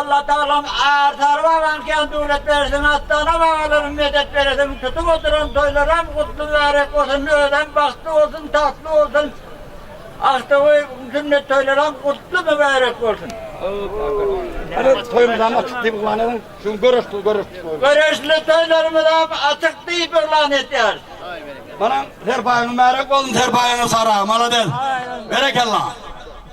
Allatagalaň Arsary bagaň kän döwlet bersin Atdana bagalarym medet beresin tutup oturan toýlaram gutly mübärek bolsun özem bagtly bolsun tagtly bolsun Aktowy sünnet toýlaram gutly mübärek bolsun. Hany toýumyzam açyk diýip yglan ediň şu göreşli göreşli toýumyz. Göreşli toýlarymyzam açyk diýip yglan edýäris. Manyň serpaýyň mübärek bolsun serpaýyňy sara malades berekella.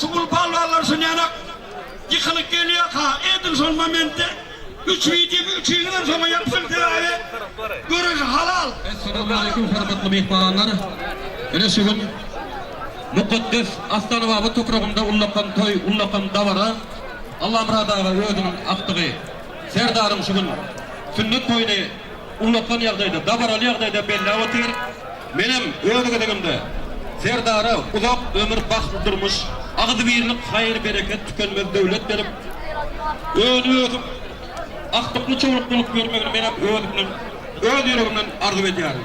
Şu gul palwanlar şunyalak ýykylyk gelýärka edil şol momentde üç wideomy üçiňizem şoňa ýapyşyň sebäbi göreş halal. Essalamualeýkum hormatly myhmanlar. Ine şu gün mukaddes Astanababa topragynda ullakan toý, ullakan dabara Allamyrat aga özüniň agtygy Serdaryň şu gün sünnet toýuny ulakan ýagdaýda, dabaraly ýagdaýda belläp otyr. Menem öz gezegimde Serdara uzak ömür, bagtly durmuş, agzybirlik, haýyr-bereket, tükenmez döwlet berip, öni-ösüp, aktykly-çowlukly bolup ýörmegini menem özümden, öz ýüregimden arzuw edýärin.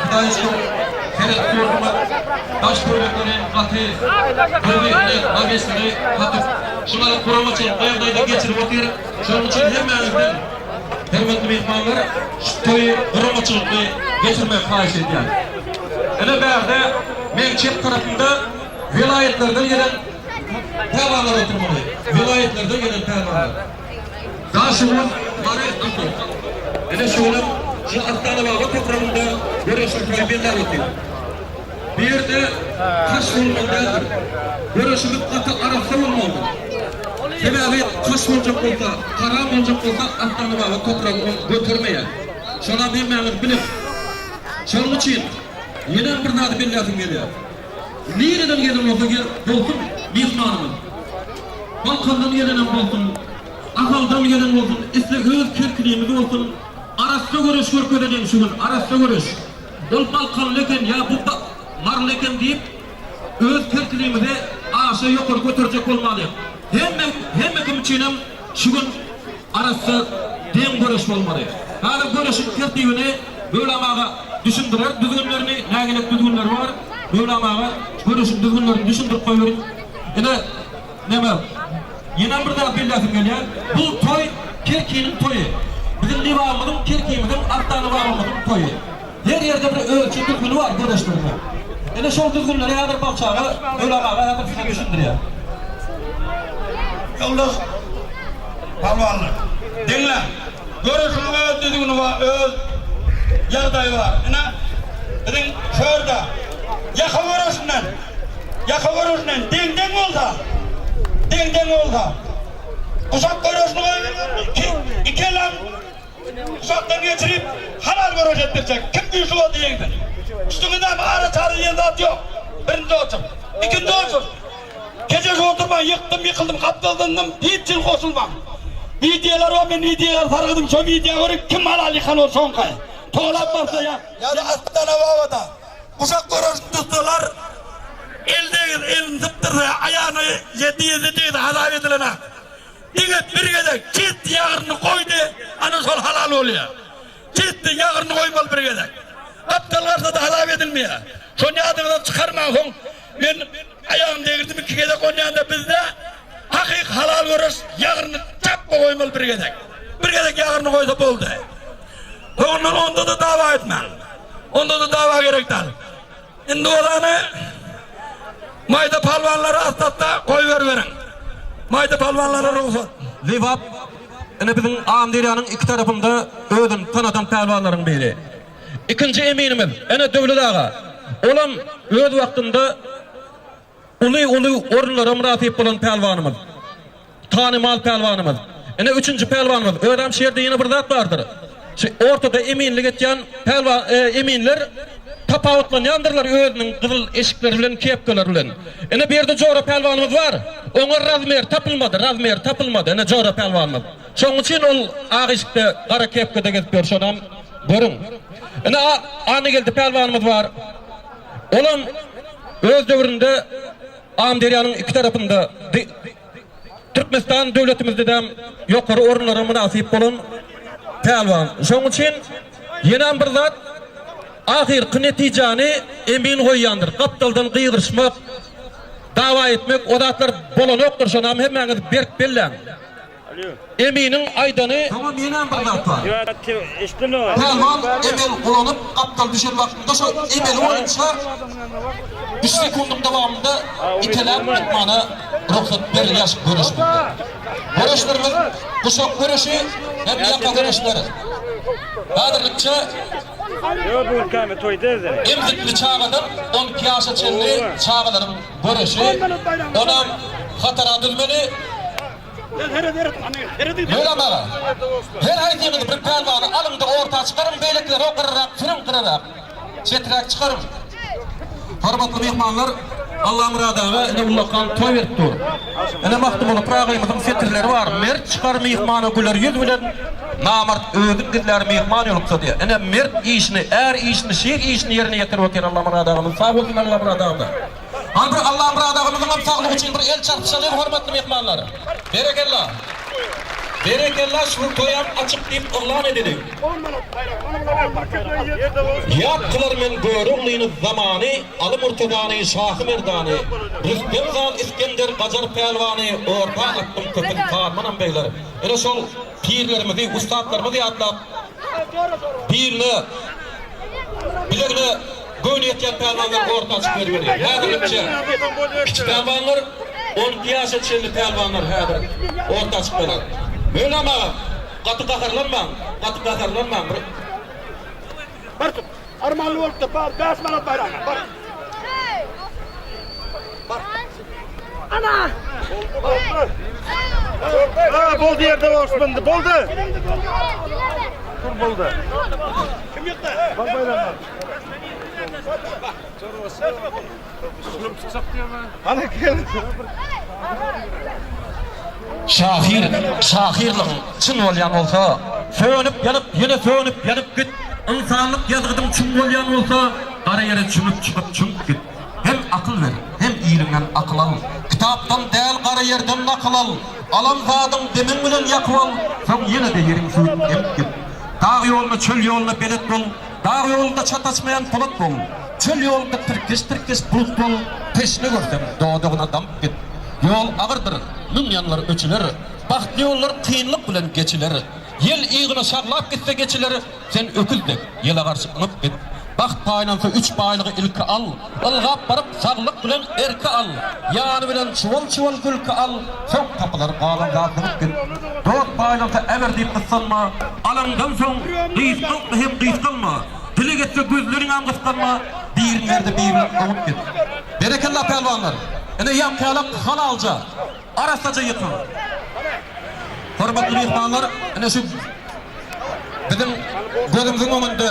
Hytaýçylyk seret ýurdumyz daş döwletleri gaty gözi ile magesleri kakyp şulary guramaçylyk ýagdaýda geçirip otyr şonuň üçin hemmäňizden hormatly myhmanlar şu toýy guramaçylykly geçirmek haýyş edýän ine bärde meň çep tarapymda welaýatlardan gelen pälwanlar oturmaly welaýatlardan gelen pälwanlar. Daşoguz, Mary, Akmyk. Ine şu günüm şu Astanababa topragynda göreşiň poýmenda goty. Bu ýerde taş bolmaly däldir. Göreşimiz gaty arassa bolmalydyr. Sebäbi taş boljak bolsa, haram boljak bolsa Astanababa topragy ony götermeýär. Şonam hemmäňiz bilis. Şonuň üçin ýenem bir zady belläsim gelýär. Nireden gelen bolsa gel bolsun myhmanymyz. Balkandan gelenem bolsun, Ahaldan gelen bolsun, isle öz kerkiniňiz bolsun, arassa göreş görkezeýin şu gün, arassa göreş. Ol balkanly eken ýa bu maryly eken diýip, öz kerkiniňizi aşa ýokary göterjek bolmalyň. Hemme, hemme kim üçinem. Şu gün arassa deň göreş bolmaly. Häzir göreşiň tertibini Möwlam aga düşündirer. Düzgünlerini, nägilelik düzgünleri bar. Möwlam aga, göreşiň düzgünlerini düşündirip goýberiň. Ine, näme, ýenem bir zat belläsim gelýär. Bu toý Kerkiniň toýy. Biziň Lebabymyzyň, Kerkimiziň, Arta Lebabymyzyň toýy. Her ýerde bir ölçi düzgüni bar birleşdirme. Ine şol düzgünleri häzir Balçaga Ölag aga häzir size düşündirýär. Ýoldaş Pälwanlar, diňläň. Göreşiň öz düzgüni bar, öz ýagdaýy bar. Ine biziň şu ýerde ýaka göreşinden, ýaka göreşinden deň-deň bolsa, deň-deň bolsa. Guşak göreşini goýbermezmi? Iki, iki elam Uzakdan geçirip halal göreş etdirjek. Kim güýçli boldy ýeňdi. Üstüňi näme ara çara diýen zat ýok. Birinji otur. Ikinji otur. Kejeşip oturmaň ýykdym ýykyldym gapdal zyndym hiç jin goşulmaň. Wideolar bar men wideolar sargydym şo wideo görip kim halal ýykan ol soňky. Tolap barsa ýa. Ýa-da Astana Babada guşak göreşini tutsalar el degir elini sypdyrsa aýagyny ýedi ýedi degdi hasap edilene. Diňe bir gezek ketdi ýagryny goýdy ana şol halal bolýa. Ketdi ýagryny goýmaly bir gezek. Gapdal garsada halak edilmeýä. Şony ýadyňyzdan çykarmaň soň men aýagym degirdim iki gezek onýanda bizde hakyky halal göreş ýagryny çapma goýmaly bir gezek. Bir gezek ýagryny goýsa boldy. Soňundan onda-da dawa etmäň. Onda-da dawa gerek dal. Indi bolany maýda palwanlary asdatda goýberiberiň. Maýda palwanlara rugsat. Lebap, ine biziň Amyderýanyň iki tarapynda özüni tanadan pälwanlaryň biri. Ikinji eminimiz, ine Döwlet aga. Olam öz wagtynda. Uly-uly orunlara mynasyp bolan pälwanymyz, tanymal pälwanymyz. Ine, üçünji pälwanymyz. Özem şu ýerde ýene bir zat bardyr. Şu ortada eminlik etýän pälwan, eminler tapawutlanýandyrlar özüniň gyzyl eşikleri bilen, kepkalar bilen. Ine, bu ýerde Jora pälwanymyz bar. Oňa razmer tapylmady, razmer tapylmady. Ine, Jora pälwanymyz. Şonuň üçin ol ak eşikde, gara kepkada gezip ýör. Şonam görüň. Ine, Annageldi pälwanymyz bar. Olam öz döwründe Amyderýanyň iki tarapynda di. Türkmenistan döwletimizdedem ýokary orunlara mynasyp bolan pälwan. Şonuň üçin ýenem bir zat ahyrky netijäni emin goýýandyr. Gapdaldan gygyryşmak, dawa etmek o zatlar bolanokdyr. Şonam hemmäňiz berk belläň. Eminiň aýdany Pälwan Emel gulanyp gapdal düşen wagtynda şo emeli boýunça üç sekundyň dowamynda iteläp atmana rugsat berilýär göreş bunda göreşlerimiz guşak göreşi hem ýaka göreşler häzirlikçe emzikli çagadan on iki ýaşa çenli çagalaryň göreşi onam hatara dülmeli. Möwlam aga, her haýsyňyz bir pälwany alyň-da orta çykaryň, beýlekileri okarrak sürüň gyrarak, çeträk çykaryň. Hormatly myhmanlar, Allamyrat aga ine ullakan toý berip dur. Ine Magtymguly Pyragyymyzyň setirleri bar, Mert çykar myhmana güler ýüz bilen, namart özün gizlär myhman ýoluksa diýýär. Ine mert işini, är işini, şir işini ýerine ýetirip otyr Allamyrat agamyz. Sag bolsun Allamyrat agam-da. Al bir Allamyrat agamyzyňam saglygy üçin bir el çarpyşalyň hormatly myhmanlar. Berekella. Berekella şu toýam açyk diýip yglan edeliň. Ýat kylar men Göroglyny Zamany Aly Murtazany Şahy Merdany Rüstem Zal Isgender Gajar Pälwany Orta atdyň köpün Karmanam begler ine şol pirlerimizi ussatlarymyzy ýatlap birine bilegine göwni ýetýän pälwanlar orta açyk bermeli. Häzirlikçe kiçi pälwanlar, on iki ýaşa çenli pälwanlar häzir orta açyk bolar. Mölam aga, gaty gaharlanmaň, gaty gaharlanmaň. Armanly bolupdyr bar bäş manat baýragyna bar. Bar. Ana. Aa boldy yerde boşmandı boldu. Tur boldu. Kim yıktı? Bak bayramlar. Bak. Şahyr şahyrlygyň çyn bolýan bolsa Sönüp ýanyp ýene sönüp ýanyp git Ynsanlyk ýazgydyň çuň bolýan bolsa Gara ýere çümüp çykyp çümüp git Hem akyl ber hem iliňden akyl al Kitapdan däl gara ýerden nakyl al Alan zadyň demiň bilen ýakyp al Soň ýene-de ýeriň suwup emip git Dag ýoluna çöl ýoluna belet bol Dag ýolunda çat açmaýan polat bol, Çöl ýolunda tirkeş-tirkeş bulut bol, Teşne görseň, dodagyna damyp git. Ýol agyrdyr, müň ýanlar öçüler, Bagtly ýollar kynlyk bilen geçiler. Ýel yzyna şaglap gitse geçiler, Sen öküz dek, ýele garşy yňyp git. Bagt paýlansa üç baýlygy ilki al, Ylgap baryp saglyk bilen erki al, Ýany bilen çuwal-çuwal gülki al. Soň tapylar galan zat bolup git, Dost baýlansa äber diýip gyssanma. Alandan soň gysgaltma hem gysgalma, Dileg etse gözleriňem gysganma. Biriň derdi biriniň oňup git. Berekella pälwanlar! Ine ýaňkyýalak halalja. arassaja ýykyň. Hormatly myhmanlar, ine şu biziň gözümiziň öňünde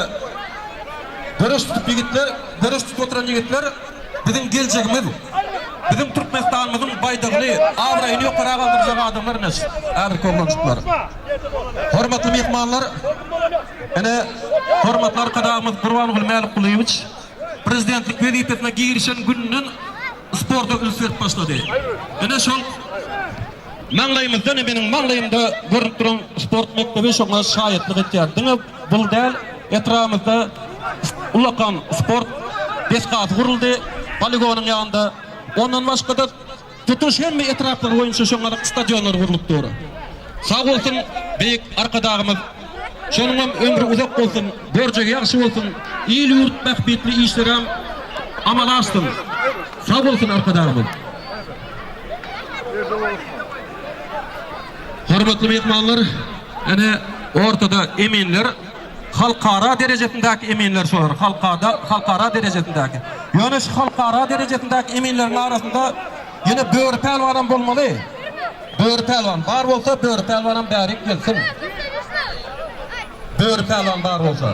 göreş tutup ýigitler, göreş tutup oturan ýigitler biziň geljegimiz. Biziň Türkmenistanymyzyň baýdagyny, abraýyny ýokara galdyrjak adamlar ine şu häzirki oglanjyklar. Hormatly myhmanlar, ine hormatly Arkadagymyz Gurbangul Mälikgulyýewiç prezidentlik wezipesine girişen günden sporta üns berip başlady. Ine şol maňlaýymyzda, ine meniň maňlaýymda görnüp duran sport mekdebi şoňa şaýatlyk etýär. Diňe bul däl, etrabymyzda ullakan sport desgasy guruldy, poligonyň ýanynda. Ondan başga-da, Tutuş hemme etraplar boýunça şoňaryk stadionlar gurlup dur. Sag bolsun beýik Arkadagymyz. Şonuňam ömri uzak bolsun, görjegi ýagşy bolsun, il-ýurt bähbitli işlerem amala aşsyn. Sag bolsun Arkadagymyz. Hormatly myhmanlar, ene ortada eminler. Halkara derejesindäki eminler şolar. Halkada, halkara derejesindäki. Ýöne şu halkara derejesindäki eminleriň arasynda ýene Böri pälwanam bolmaly. Böri pälwan bar bolsa, Böri pälwanam bärik gelsin. Böri pälwan bar bolsa.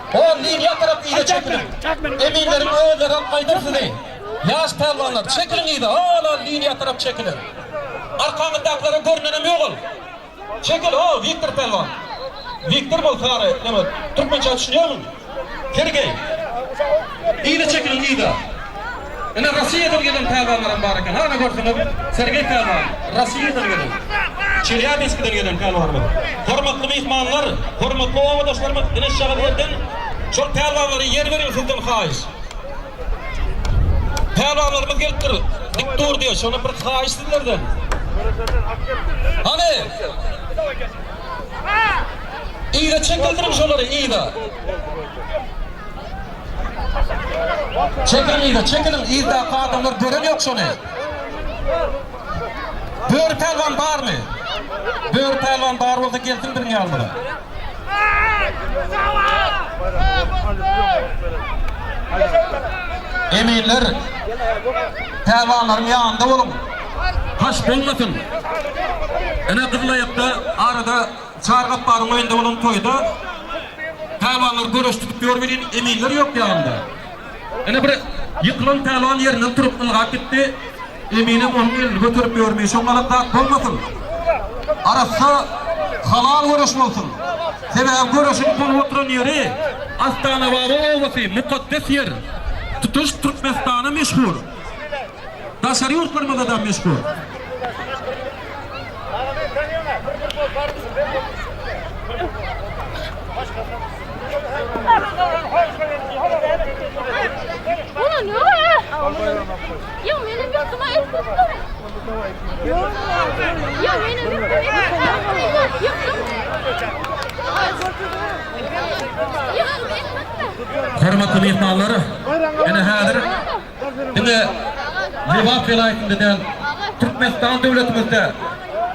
Hol liniýa tarap yza çekiliň. Eminleriň özlegem gaýdar sizi. Ýaş pälwanlar, çekiliň yza, hol-hol liniýa tarap çekiliň. Arkaňyzdakylara görnenem ýok ol. Çekil, ho, Wiktor pälwan. Wiktor bol, sary neme, türkmençä düşünýärmiň? Sergeý. Yza çekiliň, yza. Ine Rossiýadan gelen pälwanlaram bar eken. Hany görseňiz Sergeý pälwan Rossiýadan gelen. Çelýabinskiden gelen pälwanlar. Hormatly myhmanlar, hormatly obadaşlarymyz ine şujagyz ýerden şol pälwanlara ýer beriň sizden haýyş. Pälwanlarymyz gelipdir. Dik dur diýe şona bir haýyş sizlerden. Hany. Yza çekildiriň şolary yza. Çekiliň yza, çekiliň, yzdaky adamlar gören ýok şony. Böri pälwan barmy? Böri pälwan bar bolsa gelsin biziň ýanymyza. Eminler, pälwanlaryň ýanynda boluň. Haş bolmasyn. Ine gyzylaýakda arada Çary Gapbaryň öýünde bolan toýda pälwanlar göreş tutup ýör welin, eminler ýok ýanynda. Ine, bir ýykylan pälwan ýerinden turup, ylgap gitdi. Eminem onuň elini göterip ýörmi, şoňňalak zat bolmasyn! Arassa, halal göreş bolsun! Sebäbi göreşiň bolup oturan ýeri Astanababa obasy, mukaddes ýer. Tutuş Türkmenistana meşhur. Daşary ýurtlarymyzda da meşhur. Hormatly myhmanlar, ene häzir diňe Lebap welaýatynda däl, Türkmenistan döwletimizde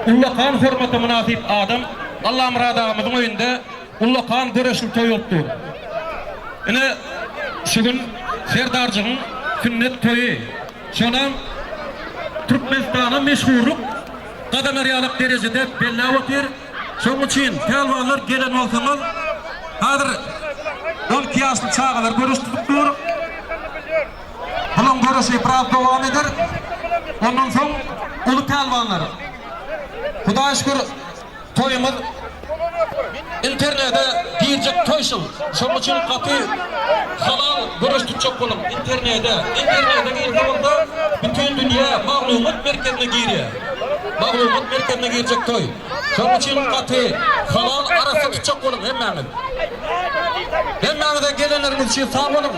ullakan hormata mynasyp adam Allamyrat agamyzyň öýünde ullakan göreşli toý bolup dur. Ine, şu gün Serdarjygyň sünnet toýy, şonam Türkmenistana meşhurlyk gazanarýalak derejede belläp otyr. Şonuň üçin pälwanlar gelen bolsaňyz hazir on iki ýaşly çagalar göreş tutup dur. Bulaň göreşi biraz dowam eder. Ondan soň uly pälwanlar. Hudaýa şükür toýumyz internede girjek toý şul. Şonuň üçin gaty halal göreş tutjak boluň internede. Internede girse bolsa bütin dünýä maglumat merkezine girýär. Maglumat merkezine girjek toý. Şonuň üçin gaty halal arassa tutjak boluň hemmäňiz. Hemmäňize gelenleriňiz üçin sag boluň.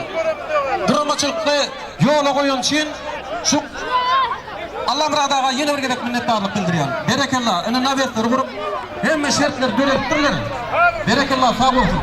Guramaçylykly ýola goýan üçin şu Allamyrat aga ýene bir gezek minnetdarlyk bildirýän. Berekella, indi nabesleri gurup hemme şertleri döredipdirler. Berekella sag bolsun.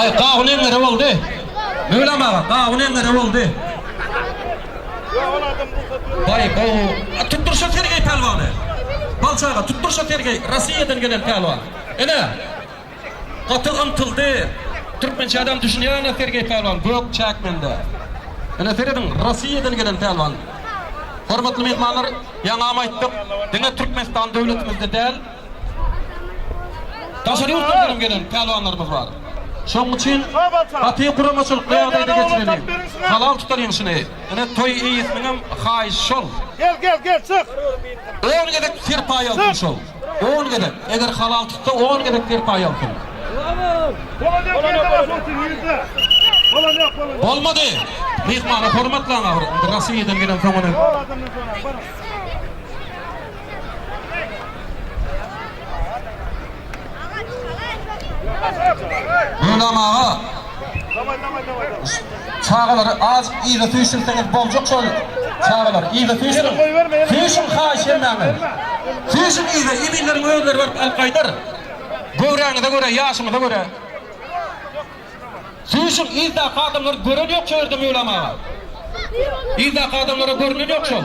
Aý gawun eňňere boldy. Möwlam aga gawun eňňere boldy. Baý gowy. A tutdur şo Sergeý pälwany. Balçy aga tutdur şo Sergeý Rossiýadan gelen pälwan. Ene. Gaty ymtyldy. Türkmençe adam düşünýär ene Sergeý pälwan gök çäk mende. Ene serediň Rossiýadan gelen pälwan. Hormatly myhmanlar ýaňam aýtdyk diňe Türkmenistan döwletimizde däl. Daşary ýurtlardan hem gelen pälwanlarymyz bar. Şonuň üçin gaty guramaçylykly ýagdaýda geçireli. Halal tutar ýeňşini. Ine toý eýesiniň hem haýyşy şol. Gel gel gel çyk. On gezek serpaý alsyn şol. On gezek. Eger halal tutsa on gezek serpaý alsyn. Bolmady. Myhmany hormatlaň ahyry. Indi Rossiýadan gelensoň ony. Gulam aga çagalary azyk yza süýşürseňiz boljak şol çagalary yza süýşüriň süýşüň haýyş hemmäňe süýşüň yza eminleriň özleri baryp alyp gaýdar göwräňize görä ýaşyňyza görä. Süýşüň yzdaky adamlary gören ýok şu ýerde Möwlam aga. Yzdaky adamlara görünen ýok şol.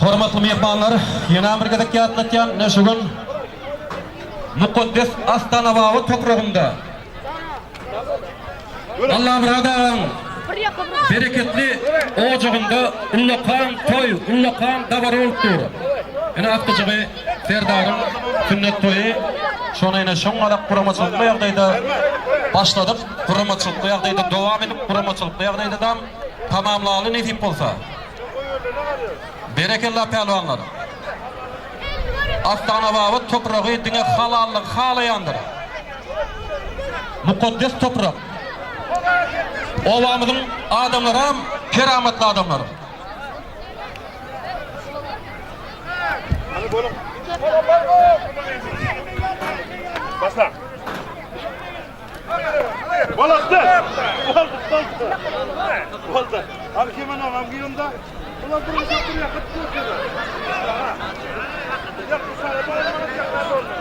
Hormatly myhmanlar, ýene bir gezek ýatlatýan, ine şu gün mukaddes Astanababa topragynda Allamyrat agaň bereketli ojagynda ullakan toý, ullakan dabara bolup dur. Ine atdyjygy Serdaryň sünnet toýy şony ine şoň alak guramaçylykly ýagdaýda başladyk, guramaçylykly ýagdaýda dowam edip, guramaçylykly ýagdaýda dam. tamamlaly nesip bolsa. Berekella pälwanlar. Astanababat topragy diňe halallygy halaýandyr. Mukaddes toprak. Obamyzyň adamlaram keramatly adamlar. Başla.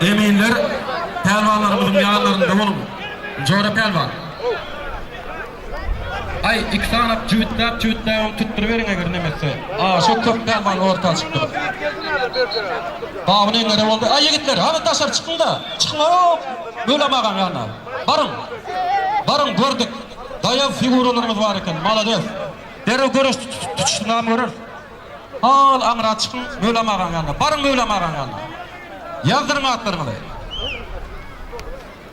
Eminler pälwanlarymyzyň ýanlarynda boluň. Jora pälwan. Aý, iki sanap jübütläp-jübütläbem tutduryberiň eger nemesse. Aa, şo köp däl many orta açypdyr. Babyny eňere boldy. Aý, ýigitler, hany daşary çykyň-da! Çykyň-ow! Mölam agaň ýanyna. Baryň! Baryň, gördük. Daýaw figuralaryňyz bar eken. Malades! Derrew göreş tutuşdyňamy göreris. Hal aňra çykyň, Mölam agaň ýanyna. Baryň Mölam agaň ýanyna. Ýazdyryň atlaryňyzy.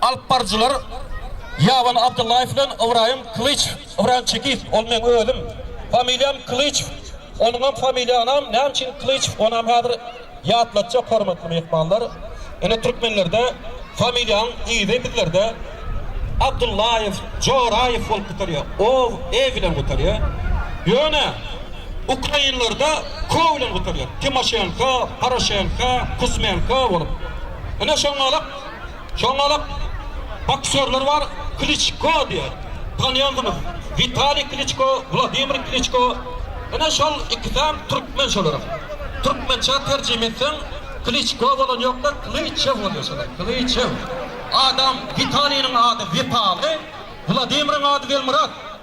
Alyp baryjylar Ýaban Abdyllaýew bilen Ybraýym Kylyç, Ybraýym Çekiýew, ol meň özüm, familiýam Kylyçow. Onuňam familiýanam näme üçin Klyçew onam häzir ýatlatjak hormatly myhmanlar. Ine türkmenlerde familiýaň yzy bizlerde Abdullaýew, Joraýew bolup gutarýar. Ow, e bilen gutarýar. Ýöne ukrainlerde ko bilen gutarýar. Timoşenko, Poroşenko, Kuzmenko bolup. Ine şoňňalak. Şonda-da boksýorlar bar, Kliçko diýen, tanaýansyňyz. Witaliý Kliçko, Wladimir Kliçko. Ine, şol ikisem türkmen şolaram. Türkmençä terjime etseň, Kliçko bolan ýok-da, Klyçew bolýar şolar, Klyçew. Adam Witaliniň ady Witaly, Wladimiriň ady Welmyrat.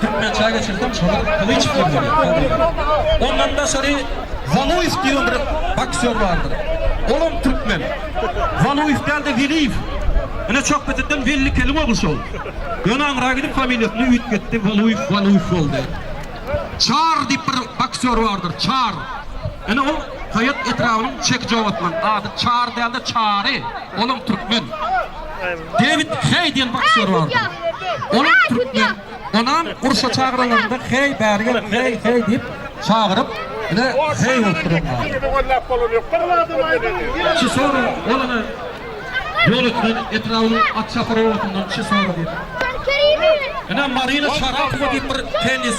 Türkmen çaý geçirsem şony gylyç diýip ýörýär. Ondan daşary Waluýew diýen bir boksýor bardyr. Olam türkmen. Waluýew däl-de Weliýew. Ine Çokbeteden Wellikeliň ogly şol. Ýöne aňra gidip familiýasyny üýtgetdi, Waluýew Waluýew boldy. Çar diýip bir boksýor bardyr, Çar. Ine ol Haýat etrabynyň Çekijow atly. Ady Çar däl-de Çary. Olam türkmen. Dewid Heý diýen boksýor bardy. Olam türkmen. Onam urşa çagyranlarynda Heý bäri gel, heý, heý diýip çagyryp, ine heý bolup durýar. Çysora olana ýol etmeli, etrabynyň Atşaharowasynyň Çysora diýip. Ine Marina Şarapowa diýip bir tennis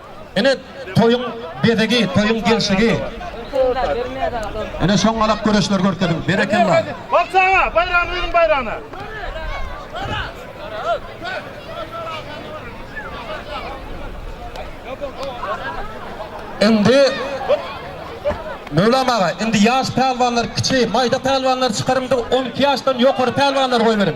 Ine toýuň bezegi, toýuň gelşigi. Ine şoňalak göreşler görkeziň. Berekella. Bagşy aga, baýragyny beriň baýragyny. Indi Möwlam aga, indi ýaş pälwanlar, kiçi, maýda pälwanlary çykaryň-da, on iki ýaşdan ýokary pälwanlary goýberiň.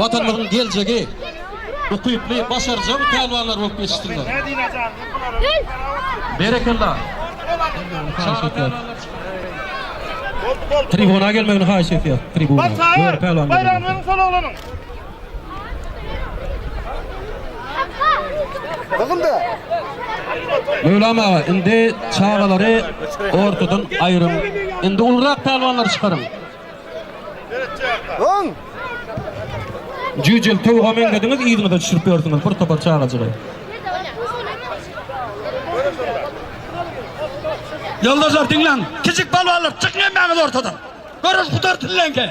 Watanymyzyň geljegi ukyply, başarjaň pälwanlar bolup ýetişsinler. Berekella. Tribuna gelmegini haýyş etýär. Tribuna. Ýöne pälwan. Baýramyň solaglanyň. Gyzylda. Möwlam aga, indi çagalary ortadan aýryň. Indi ulrak pälwanlary çykaryň. Öň! Jüjüm, towuga meňzediňiz, yzyňyza düşürip ýörsüňiz, bir topar çagajygy. Ýoldaşlar, diňläň! Kiçik palwanlar, çykyň hemmäňiz ortadan! Göreş gutar diňlänkä,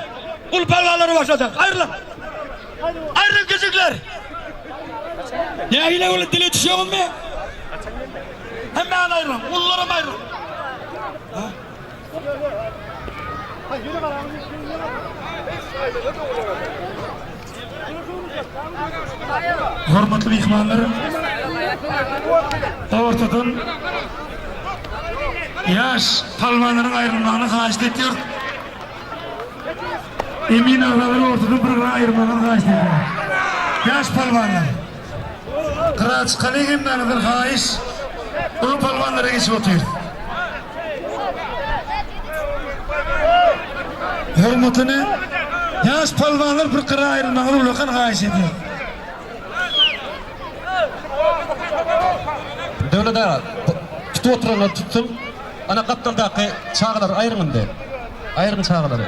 uly palwanlary başlajak. Aýrylyň! Aýrylyň, kiçikler! Nähili boldy, dile düşýäňizmi? Hemmäňiz aýrylyň, ulular hem aýrylyň! Hormatly myhmanlar, ortadan ýaş palwanlaryň aýrylmagyny haýyşt etýärys. Emin agalary ortadan bir-birine aýyrmagyny haýyşt edýäris. Ýaş palwanlar! Gyra çykalyň hemmäňizden haýyş. Uly palwanlara geçip otyrys. Hormatyny ýaş palwanlar bir gyra aýrylmaňyzy ullakan haýyş edýäs. Döwlet aga, tutup oturanlar tutsun. Ana gapdaldaky çagalary aýryň indi. Aýryň çagalary.